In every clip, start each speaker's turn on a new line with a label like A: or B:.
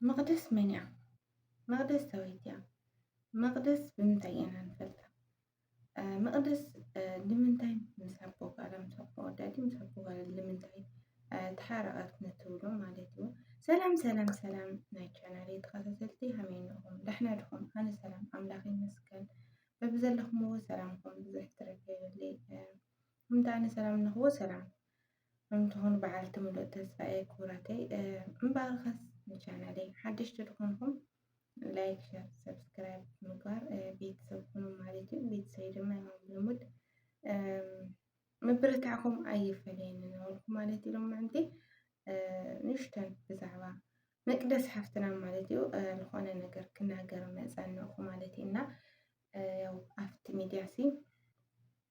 A: መቕደስ መን እያ? መቕደስ ዳዊት እያ። መቕደስ ብምንታይ ኢና ንፈልጣ? መቕደስ ንምንታይ ምስ ኣቦ ጓላ ምስ ኣቦ ወዳዲ ምስ ኣቦ ጓላ ንምንታይ ተሓረቐት ንትብሉ ማለት እዩ። ሰላም ሰላም ሰላም ናይ ቻናል ተኸታተልቲ ከመይ እንኹም ዳሕና ድኹም? ኣነ ሰላም ኣምላኽ ይመስገን በብዘለኹምዎ ሰላምኩም ብዙሕ ትረፍ የብለይ። ከምቲ ኣነ ሰላም እንኹዎ ሰላም እንትኾኑ በዓልቲ ምሉእ ተስፋ እየ ክቡራተይ። እምበኣርኸስ ንቻናለይ ሓደሽቲ ዝኾንኩም ላይክ፣ ሸር፣ ሰብስክራይብ ምግባር ቤተሰብ ኩኑ ማለት እዩ። ቤተሰብ ድማ ያው ልሙድ ምብርታዕኩም ኣይፈለየኒ ነበልኩ ማለት እዩ። ሎማዕንቲ ንሽተን ብዛዕባ መቅደስ ሓፍትና ማለት እዩ ዝኾነ ነገር ክናገር መፀንኹ ማለት እዩ እና ያው ኣብቲ ሚዲያ ሲ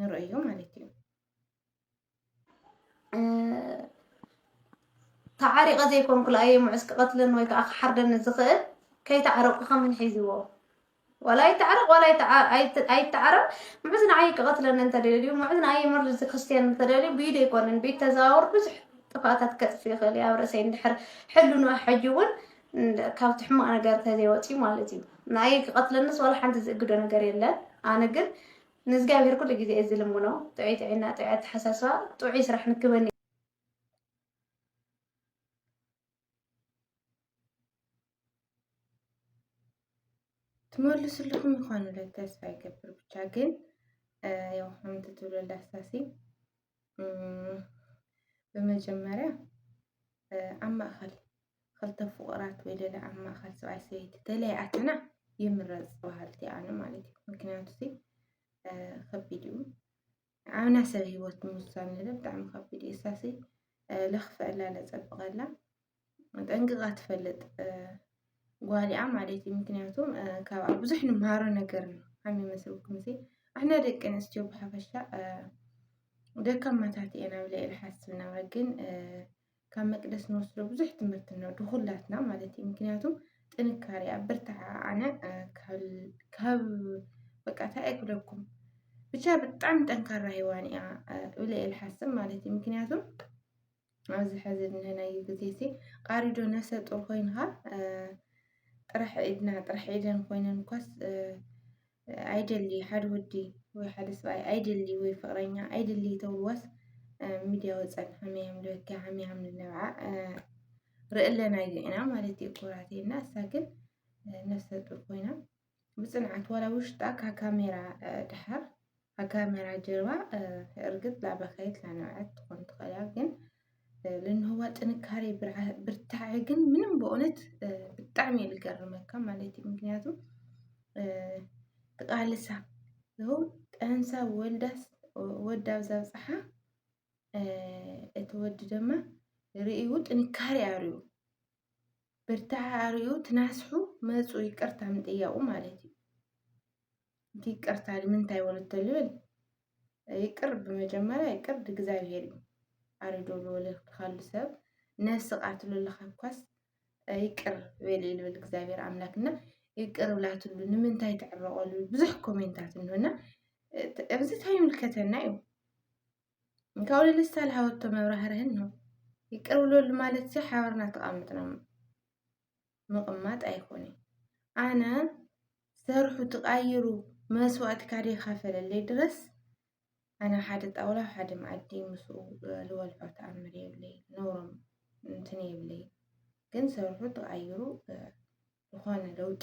A: ንርእዮ ማለት እዩ
B: ተዓሪቐ ዘይኮንኩ ለኣየ ምዑስ ክቐትለን ወይ ከዓ ክሓርደኒ ዝኽእል ከይተዓረቁ ከምን ሒዝዎ ዋላ ይተዓረቕ ዋላ ኣይተዓረቕ ምዑዝ ንዓይ ክቐትለኒ እንተደልዩ ምዑዝ ንዓይ መርዚ ክርስትያን እንተደልዩ ብኢዱ ኣይኮነን ቤት ተዘዋወር ብዙሕ ጥፋታት ከጥፍ ይኽእል እዩ ኣብ ርእሰይ እንድሕር ሕሉኑ ሕጂ እውን ካብቲ ሕማቕ ነገር ተዘይወፅዩ ማለት እዩ ንኣይ ክቐትለንስ ዋላ ሓንቲ ዝእግዶ ነገር የለን ኣነ ግን ንእዝግኣብሄር ኩሉ ግዜ እየ ዝልምኖ ጥዑይ ጥዕና ጥዑይ ኣተሓሳስባ ጥዑይ ስራሕ ንክበኒ።
A: ትመልስልኹም ይኾኑ ኢለ ተስፋ ይገብር ብቻ ግን ያው ከምቲ ትብሎ ላስታሲ ብመጀመርያ ኣብ ማእኸል ኸልተ ፍቑራት ወይ ለለ ኣብ ማእኸል ሰብኣይ ሰበይቲ ተለያኣትና ይምረፅ በሃልቲ ኣነ ማለት እዩ ምክንያቱ ሲ ከቢድ እዩ ኣብና ሰብ ሂወት ምውሳን ንለ ብጣዕሚ ከቢድ እዩ እሳ ሲ ለኽፍዐላ ለፀብቐላ ጠንቅቓ ትፈልጥ ጓሊኣ ማለት እዩ ምክንያቱ ካብኣ ብዙሕ ንምሃሮ ነገር እዩ ከም ይመስልኩም ሲ ኣሕና ደቂ ኣንስትዮ ብሓፈሻ ደካማታት እየን ኣብ ልዕሊ ሓስብና ግን ካብ መቅደስ ንወስዶ ብዙሕ ትምህርቲ ኣሎ ድኹላትና ማለት እዩ ምክንያቱ ጥንካሬኣ ብርታዓ ኣነ ካብ በቃ እንታይ ኣይኩለኩም ብቻ ብጣዕሚ ጠንካራ ሂዋን እያ እብለ እየ ዝሓስብ ማለት እዩ ምክንያቱ ኣብዚ ሕዚ ዝንህናዩ ግዜ ሲ ቃሪዶ ነፍሰ ጡር ኮይንካ ጥራሕ ኢድና ጥራሕ ኢደን ኮይነን እኳስ ኣይደሊ ሓደ ወዲ ወይ ሓደ ሰብኣይ ኣይደሊ ወይ ፍቅረኛ ኣይደሊ ተብልዋስ ሚድያ ወፀን ሃመያም ልበኪ ሃመያም ልነብዓ ርእለናዮ ኢና ማለት እዩ ኩራቴ እና እሳ ግን ነፍሰ ጡር ኮይና ብፅንዓት ዋላ ውሽጣ ካብ ካሜራ ድሓር ኣብ ካሜራ ጀርባ እርግጥ ላበኸየት ላነብዐት ትኾን ትኽእል እያ ግን ልንህዋ ጥንካሬ ብርታዐ ግን ምንም በእውነት ብጣዕሚ እዩ ልገርመካ ማለት እዩ። ምክንያቱ ትቃልሳ ይኸው ጠንሳ ወልዳስ ወዳ ኣብዛ ብፅሓ እቲ ወዲ ድማ ርእዩ ጥንካሬ ኣርእዩ ብርታዐ ኣርእዩ ትናስሑ መፁ ይቅርታ ምጥያቁ ማለት እዩ። እቲ ይቅርታ ንምንታይ ወሉ ተልብል ይቅር ብመጀመርያ ይቅር ድእግዚኣብሄር እዩ ኣሪዶ ልወለ ካሉ ሰብ ነስቃት ሉልካ እኳስ ይቅር በል ልብል እግዚኣብሔር ኣምላክ እና ይቅር ብላትሉ ንምንታይ ትዕረቀሉ ብዙሕ ኮሜንታት እንሆና እዚ እንታይ ይምልከተና እዩ ካብኡ ልልስታ ልሃወቶ መብራህርህን ነው ይቅር ብለሉ ማለት እዚ ሓበርና ተቃምጥና ምቕማጥ ኣይኮነይ ኣነ ሰርሑ ትቓይሩ መስዋእቲ ካደ ይካፈለለይ ድረስ ኣነ ሓደ ጣውላ ሓደ መኣዲ ምስኡ ልበልዖ ተኣምር የብለይ ነውሮም እንትን የብለይ ግን ሰርሑ ተቓይሩ ዝኾነ ለውጢ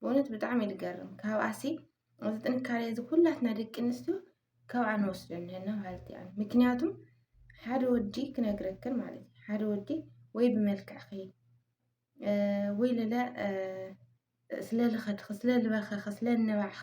A: ብእውነት ብጣዕሚ እዩ ዝገርም ካብኣሲ እዚ ጥንካሬ እዚ ኩላትና ደቂ ኣንስትዮ ካብኣ ንወስዶ ኣለና ማለት እዩ ምክንያቱ ሓደ ወዲ ክነግረክን ማለት እዩ ሓደ ወዲ ወይ ብመልክዕኺ ወይ ለለ ስለልኸድኺ ስለልበኸኺ ስለልነባዕኺ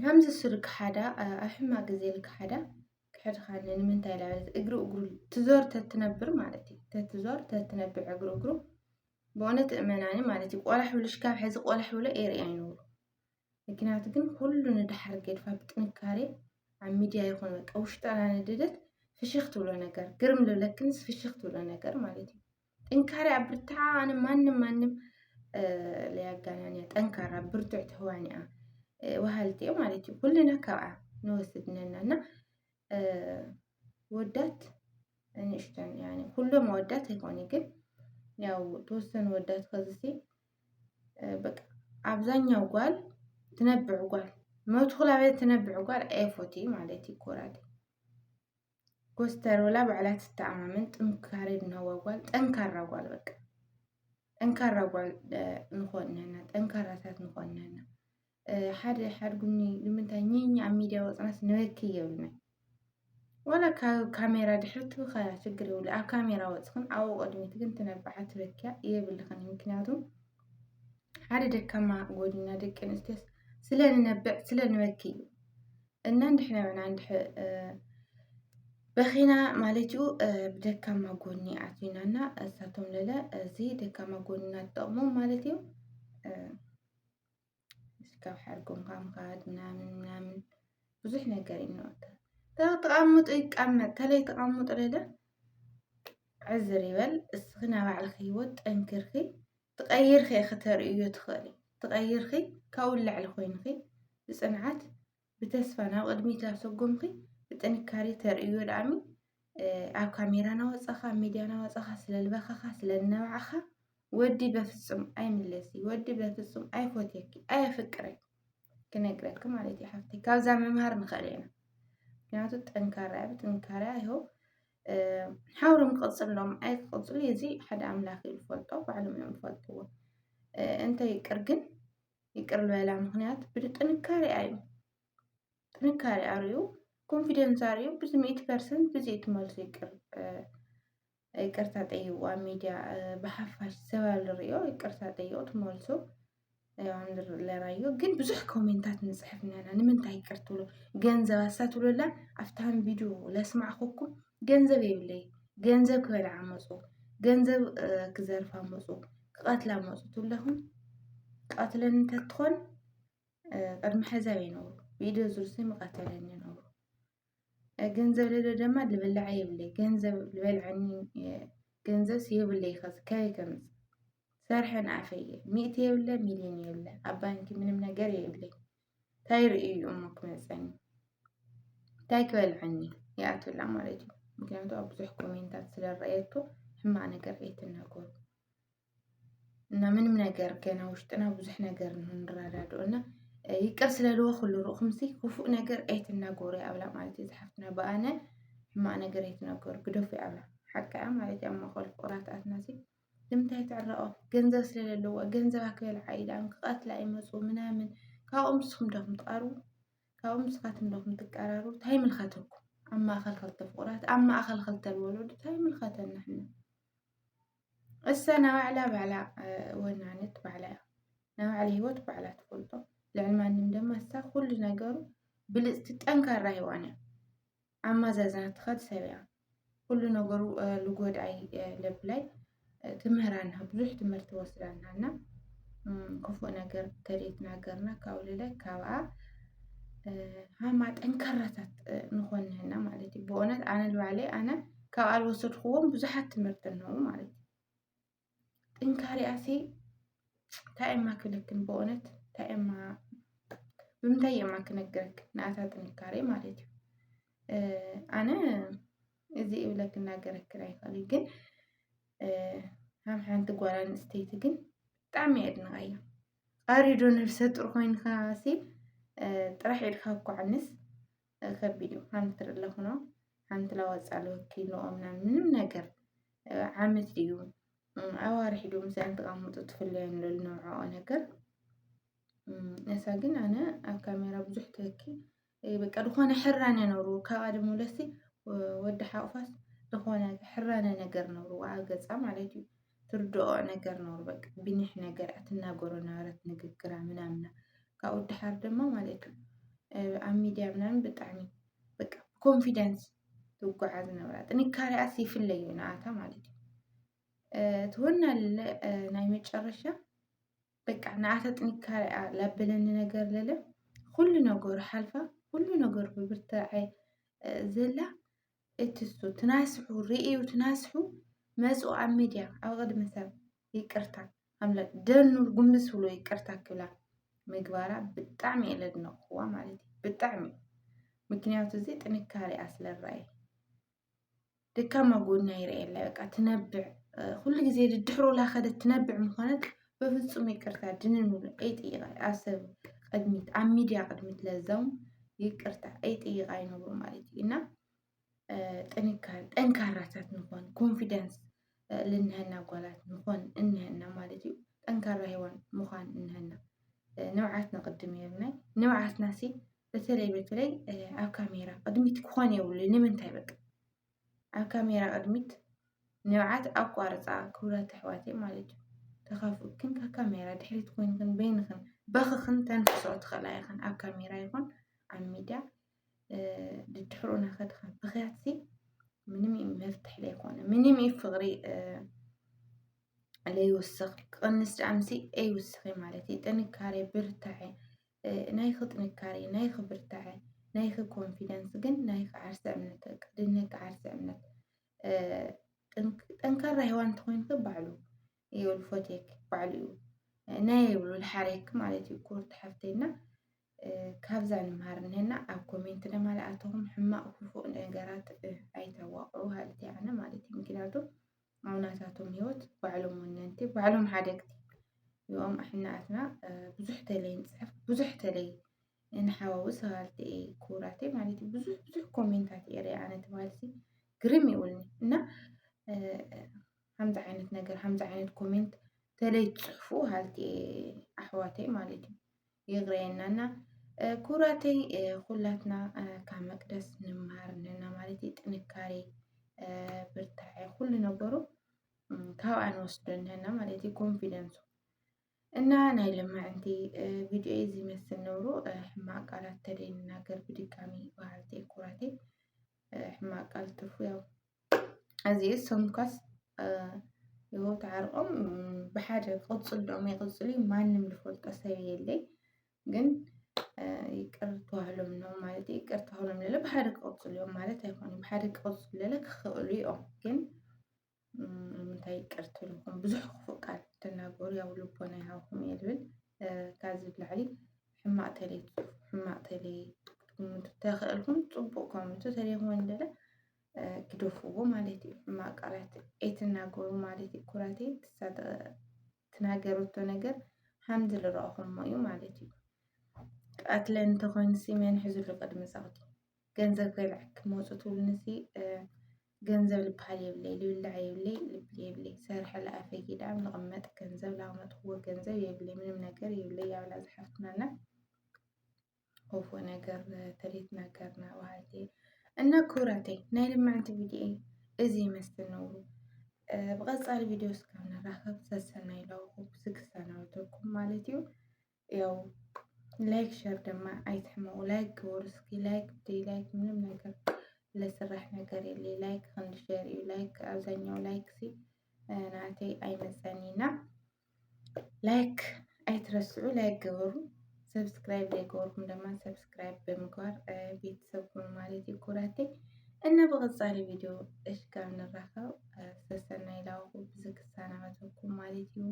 A: ከምዚ ሱር ክሓዳ ኣብ ሕማቅ ግዜ ክሓዳ ክሕድካኒ ንምንታይ ኢላ በለት እግሪ እግሩ ትዞር ተትነብር ማለት እዩ ተትዞር ተትነብር እግሪ እግሩ ብእውነት እመናኒ ማለት እዩ ቆላሕ ብልሽ ካብ ሕዚ ቆላሕ ብሎ ኤርኢ ኣይነብሩ ምክንያቱ ግን ኩሉ ንድሓር ገድፋ ብጥንካሬ ኣብ ሚድያ ይኹን በቃ ውሽጣ ናነደደት ፍሽኽ ትብሎ ነገር ግርም ልብለክንስ ፍሽኽ ትብሎ ነገር ማለት እዩ ጥንካሬ ኣብርትዓ ኣነ ማንም ማንም ለያጋናንያ ጠንካራ ብርቱዕ ተዋኒያ ወሃልቲ እዮም ማለት እዩ ኩልና ካብኣ ንወስድ ነና እና ወዳት ንእሽተን ኩሎም ወዳት ኣይኮነ ግን ያው ተወሰኑ ወዳት ከዝሲ በቃ ኣብዛኛው ጓል ትነብዕ ጓል መትኩላ ቤት ትነብዕ ጓል ኤፎቲ ማለት ይኮራል ኮስተር ብላ ባዕላ ትተኣማመን ጥንካሬ ዝናዋ ጓል ጠንካራ ጓል በቃ ጠንካራ ጓል ንኾን ነና ጠንካራታት ንኾን ነና ሓደ ሓድጉኒ ንምንታይ ኝኝ ኣብ ሚድያ ወፅናስ ንበኪ የብልና ዋላ ካብ ካሜራ ድሕሪ ትብኸያ ችግር የብሉ ኣብ ካሜራ ወፅኽን ኣብኡ ቅድሚት ግን ትነብዓ ትበኪያ የብልኽን ምክንያቱ ሓደ ደካማ ጎድና ደቂ ኣንስትዮስ ስለንነብዕ ስለንበኪ እዩ እና እንድሕና ና እንድሕ በኺና ማለት እዩ ብደካማ ጎኒ ኣትዩና እና እሳቶም ለለ እዚ ደካማ ጎኒና ትጠቕሞም ማለት እዩ ካብ ሓርጎም ካምካድ ምናምን ምናምን ብዙሕ ነገር ይነወታ ተቐምጡ ይቀመጥ ተለይ ተቐምጡ ለለ ዕዝር ይበል እስኺ ናባዕልኺ ህይወት ጠንክርኺ ትቐይርኺ ኢኺ ተርእይዮ ትኽእሊ ትቐይርኺ ካብኡ ንላዕሊ ኮይንኺ ብፅንዓት ብተስፋ ናብ ቅድሚት ኣሰጎምኺ ብጥንካሬ ተርእዮ ድኣሚ ኣብ ካሜራ ናወፃኻ ኣብ ሚድያ ናወፃኻ ስለልበኻኻ ስለልነባዕኻ ወዲ በፍፁም ኣይምለሲ ወዲ በፍፁም ኣይፎትየኪ ኣየፍቅረይ ክነግረኪ ማለት እዩ ሓፍተይ ካብዛ ምምሃር ንኽእል ኢና ምክንያቱ ጠንካራ እያ ብጥንካሬያ ይኸው ሓብሮም ክቕፅሎም ኣይክቕፅሉ እዚ ሓደ ኣምላኽ እዩ ዝፈልጦ ባዕሎም እዮም ዝፈልጥዎ እንተ ይቅር ግን ይቅር ዝበላ ምክንያት ብጥንካሬ እዩ ጥንካሬ ኣርዩ ኮንፊደንስ ኣርዩ ብዚ ሚእቲ ፐርሰንት ብዚ እቲ መልሱ ይቅር ይቅርታ ጠይዋ ሚድያ ብሓፋሽ ሰባል ሪኦ ይቅርታ ጠይቁ ትመልሱ ለራዮ ግን ብዙሕ ኮሜንታት ንፅሕፍ ነና ንምንታይ ይቅር ትብሎ ገንዘብ ኣሳ ትብሎላ ኣብታን ቪድዮ ለስማዕኹኩም ገንዘብ የብለይ ገንዘብ ክበልዓ መፁ ገንዘብ ክዘርፋ መፁ ክቐትላ መፁ ትብለኹም ቀትለን እንተትኾን ቅድሚ ሕዛብ ይነብሩ ቪድዮ ዝርሱ ምቐተለን ይነብሩ ገንዘብ ለለ ደማ ልበላዕ የብለይ ገንዘብ ልበልዐኒ ገንዘብስ የብለይ ኸዚ ከይ ከምፅ ሰርሐ ንኣፈይ ሚእቲ የብለ ሚልዮን የብለ ኣብ ባንኪ ምንም ነገር የብለይ ታይ ርእዩ እዩ እሞ ክመፀኒ ታይ ክበልዐኒ ይኣትወላ ማለት እዩ ምክንያቱ ኣብ ብዙሕ ኮሜንታት ስለረኣየቶ ሕማቅ ነገር ኣይትናገሩ። እና ምንም ነገር ገና ውሽጥና ብዙሕ ነገር ንረዳድኦ እና ይቅር ስለልዎ ኩሉ ርኡኹምሲ ክፉእ ነገር ኣይትናገሩ ኣብላ ማለት እዩ ዝሓፍትና ብኣነ ሕማቅ ነገር ኣይትናገሩ ግደፉ ኣብላ ሓቂ እያ ማለት እዩ ኣብ መኸል ፍቁራትኣትና ሲ ንምንታይ ትዕረቆ ገንዘብ ስለለለዎ ገንዘብ ኣክበልዓ ኢላም ክቐትላ ይመፁ ምናምን ካብኦም ንስኹም ዶኹም ትቐርቡ ካብኦም ንስኻትኩም ዶኹም ትቀራሩ እንታይ ምልከተኩም ኣብ ማእኸል ክልተ ፍቁራት ኣብ ማእኸል ክልተ ወለዱ እንታይ ምልከተና ሕና እሰ ናባዕላ ባዕላ ወናነት ባዕላ እያ ናይ ባዕላ ሂወት ባዕላ ትፈልጦ ልዕሊ ማንም ድማ እሳ ኩሉ ነገሩ ብልፅቲ ጠንካራ ሂዋን እያ ኣማዛዝና ትኸድ ሰብ እያ ኩሉ ነገሩ ልጎድኣይ ለብላይ ትምህራና ብዙሕ ትምህርቲ ወስዳና እና ክፉእ ነገር ከደይትናገርና ካብ ልለ ካብኣ ሃማ ጠንካራታት ንኾንህና ማለት እዩ ብእውነት ኣነ ልባዕለይ ኣነ ካብኣ ዝወሰድክዎም ብዙሓት ትምህርቲ ኣለዉ ማለት እዩ ጥንካሬኣሲ እንታይ እማ ክብለክን ብእውነት እንታይ እማ ብምንታይ እማ ክነግረክ ንኣታ ጥንካሬ ማለት እዩ ኣነ እዚ እብለ ክናገረክን ኣይኽእል ግን ከም ሓንቲ ጓል ኣንስተይቲ ግን ብጣዕሚ የድንቃ እዩ ኣሪዶ ነብሰ ጡር ኮይንካሲ ጥራሕ ኢልካ እኳ ዕንስ ከቢድ እዩ ሓንቲ ትርኢ ኣለኹኖ ሓንቲ ላወፃሉ ወኪልኦም ናብ ምንም ነገር ዓመት ድዩ ኣዋርሒ ድዩ ምስኣን ተቐምጡ ትፍለዮ ንለሉ ነውዕኦ ነገር እሳ ግን ኣነ ኣብ ካሜራ ብዙሕ ትህኪ በቃ ዝኾነ ሕራነ ነሩ ካብኣ ድሞ ለሲ ወዲ ሓቑፋስ ዝኾነ ሕራነ ነገር ነሩ ኣብ ገፃ ማለት እዩ ትርድኦ ነገር ነሩ በቃ ቢኒሕ ነገር ኣትናገሮ ነበረት ንግግራ ምናምና ካብኡ ድሓር ድማ ማለት እዩ ኣብ ሚድያ ምናምን ብጣዕሚ በቃ ኮንፊደንስ ትጓዓዝ ነበራ ጥንካሬኣስ ይፍለዩ ንኣታ ማለት እዩ ትወና ናይ መጨረሻ በቃ ንኣታ ጥንካሬኣ ላበለኒ ነገር ለለ ኩሉ ነገሩ ሓልፋ ኩሉ ነገሩ ብብርትዐ ዘላ እትሱ ትናስሑ ርእዩ ትናስሑ መጹ ኣብ ሚድያ ኣብ ቅድሚ ሰብ ይቅርታ ኣምላክ ደኑ ጉምብስ ብሎ ይቅርታ ክብላ ምግባራ ብጣዕሚ እየ ለድነቅዋ ማለት እዩ ብጣዕሚ ምክንያቱ እዚ ጥንካሬኣ ስለ ረኣየ ደካማ ጎና ይርእየላ በቃ ትነብዕ ኩሉ ግዜ ድድሕሩላ ከደት ትነብዕ ምኾነት በፍፁም ይቅርታ ድንን ብሎ ኣይጥይቃ ኣብ ሰብ ቅድሚት ኣብ ሚድያ ቅድሚት ለዛውም ይቅርታ ኣይጥይቃ ይነብሩ ማለት እዩ እና ጥንካሬ ጠንካራታት ንኾን ኮንፊደንስ ልንሀና ጓላት ንኾን እንሀና ማለት እዩ ጠንካራ ሄዋን ምዃን እንሀና ንብዓት ነቅድም የብናይ ንብዓትና ሲ በተለይ በተለይ ኣብ ካሜራ ቅድሚት ክኾን የብሉ ንምንታይ በቃ ኣብ ካሜራ ቅድሚት ንብዓት ኣቋርፃ ክቡራት ኣሕዋተይ ማለት እዩ ተኻፍኡክን ካብ ካሜራ ድሕሪት ኮይንክን በይንክን በኽኽን ተንፍሶ ትኽእላ ይኽን ኣብ ካሜራ ይኹን ኣብ ሚድያ ድድሕሩ ናኸድኽን ብኽያት ሲ ምንም እዩ መፍትሒ ለይኮነ ምንም እዩ ፍቕሪ ለይውስኽ ክቕንስ ዳኣምሲ ኣይውስኺ ማለት እዩ ጥንካሬ ብርታዐ ናይኺ ጥንካሬ፣ ናይኺ ብርታዐ፣ ናይኺ ኮንፊደንስ ግን ናይኺ ዓርሰ እምነት በቃ ድነኪ ዓርሰ እምነት ጠንካራ ሄዋን እንተኾይንኺ ባዕሉ እዩ ልፎቴክ ባዕሉ እዩ ናይ ይብሉ ልሓሬክ ማለት እዩ ኩርቲ ሓፍተይና ካብዛ ንምሃር እንሄና ኣብ ኮሜንት ድማ ለኣተኹም ሕማቕ ክፉእ ነገራት ኣይተዋቕዑ ሃልቲ ኣነ ማለት እዩ ምክንያቱ ኣብ ናታቶም ህይወት ባዕሎም ወነንቲ ባዕሎም ሓደግቲ እዮም ኣሕናትና ብዙሕ ተለይ ንፅሕፍ ብዙሕ ተለይ ንሓዋዊ ሰባልቲ እየ ክቡራት ማለት እዩ ብዙሕ ብዙሕ ኮሜንታት እየ ሪኣ ኣነ ትባልሲ ግርም ይብልኒ እና ከምዚ ዓይነት ነገር ከምዚ ዓይነት ኮሜንት ተለይ ትፅሕፉ ሃልቲ እየ ኣሕዋተይ ማለት እዩ የግረየናና ኩራተይ ኩላትና ካብ መቅደስ ንመሃር ኣለና ማለት እዩ። ጥንካሬ፣ ብርታዐ ኩሉ ነገሩ ካብኣ ንወስዶ ኣለና ማለት እዩ። ኮንፊደንሱ እና ናይ ለማዕንቲ ቪድዮ እዚ መስል ነብሩ ሕማቅ ቃላት ተደይንናገር ብድጋሚ በሃልተይ ኩራተይ ሕማቅ ቃል ትርፉ ያው እዚእስ ሰምኳስ ህይወት ዓርቆም ብሓደ ክቕፅል ዶም ይቕፅሉ ማንም ዝፈልጦ ሰብ የለይ ግን ይቅር ተባህሎም ነው ማለት ይቅር ተባህሎም ለለ ብሓደ ክቕፅሉ እዮም ማለት ኣይኮኑን ብሓደ ክቕፅሉ ለለ ክኽእሉ እዮም ግን ምንታይ ይቅር ትልኹም ብዙሕ ክፉእ ቃል ትናገሩ ያው ልቦና ይሃብኩም እየ ዝብል ካብዚ ብላዕሊ ሕማቅ ተለይ ሕማቅ ተለይ ክትግምቱ ተኽእልኩም ፅቡቅ ከምቱ ተለይኹም እንደለ ግደፍዎ ማለት እዩ። ሕማቅ ቃላት ኣይትናገሩ ማለት እዩ። ኩራቴ ትናገረቶ ነገር ሓምዚ ዝረኣኹሞ እዩ ማለት እዩ። ቀትለ እንተኾይኑ ሲ መን ሕዝሉ ቅድሚ ዛቕቲ ገንዘብ ከይልዕክ መፁ ትብሉኒ ሲ ገንዘብ ልበሃል የብለይ ልብላዕ የብለይ ልብል የብለይ ሰርሐ ለኣፈይ ጊዳም ልቕመጥ ገንዘብ ላመጥክዎ ገንዘብ የብለይ ምንም ነገር የብለይ ያብላ ዝሓፍትናና ኦፎ ነገር ተሪት ነገር ና ባህቲ እና ኩራቴ ናይ ልማዕንቲ ቪድዮ እዚ ይመስል ነውሩ ብቐፃሊ ቪድዮ እስካብ ንራኸብ ሰሰናይ ለኹ ስክሰናውተኩም ማለት እዩ ያው ላይክ ሸር ድማ ኣይትሕመቑ ላይክ ግበሩ እስኪ ላይክ ብደይ ላይክ ምንም ነገር ለስራሕ ነገር የለ ላይክ ክንዲ ሸር እዩ ላይክ ኣብዛኛው ላይክ ሲ ናተይ ኣይመፀኒና ላይክ ኣይትረስዑ፣ ላይክ ግበሩ። ሰብስክራይብ ዘይገበርኩም ድማ ሰብስክራይብ ብምግባር ቤተሰብ ኩኑ ማለት እዩ ኩራቴ እና ብቐፃሊ ቪድዮ እሽጋብ ንራኸብ ሰሰናይ ላውኹ ብዚ ክሰናበተኩም ማለት እዩ።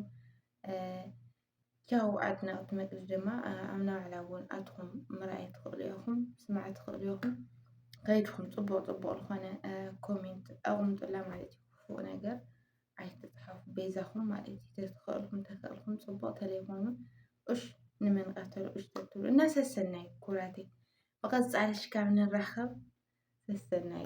A: ቻው ኣድነቕቲ መግቢ ድማ ኣብ ናባዕላ እውን ኣትኹም ምርኣይ ትኽእሉ ኢኹም፣ ስማዕ ትኽእሉ ኢኹም። ከይድኹም ፅቡቕ ፅቡቕ ዝኾነ ኮሜንት ኣቕምጡላ ማለት እዩ ክፉእ ነገር ኣይትጽሓፉ በይዛኹም ማለት እዩ ተተኸእልኩም ተኸእልኩም ጽቡቕ ተለይኮኑ እሽ ንመን ቀተሉ እሽ ተትብሉ እና ሰሰናይ ኩራቴ ብቐጻሊ ሽካብ ንራኸብ ሰሰናይ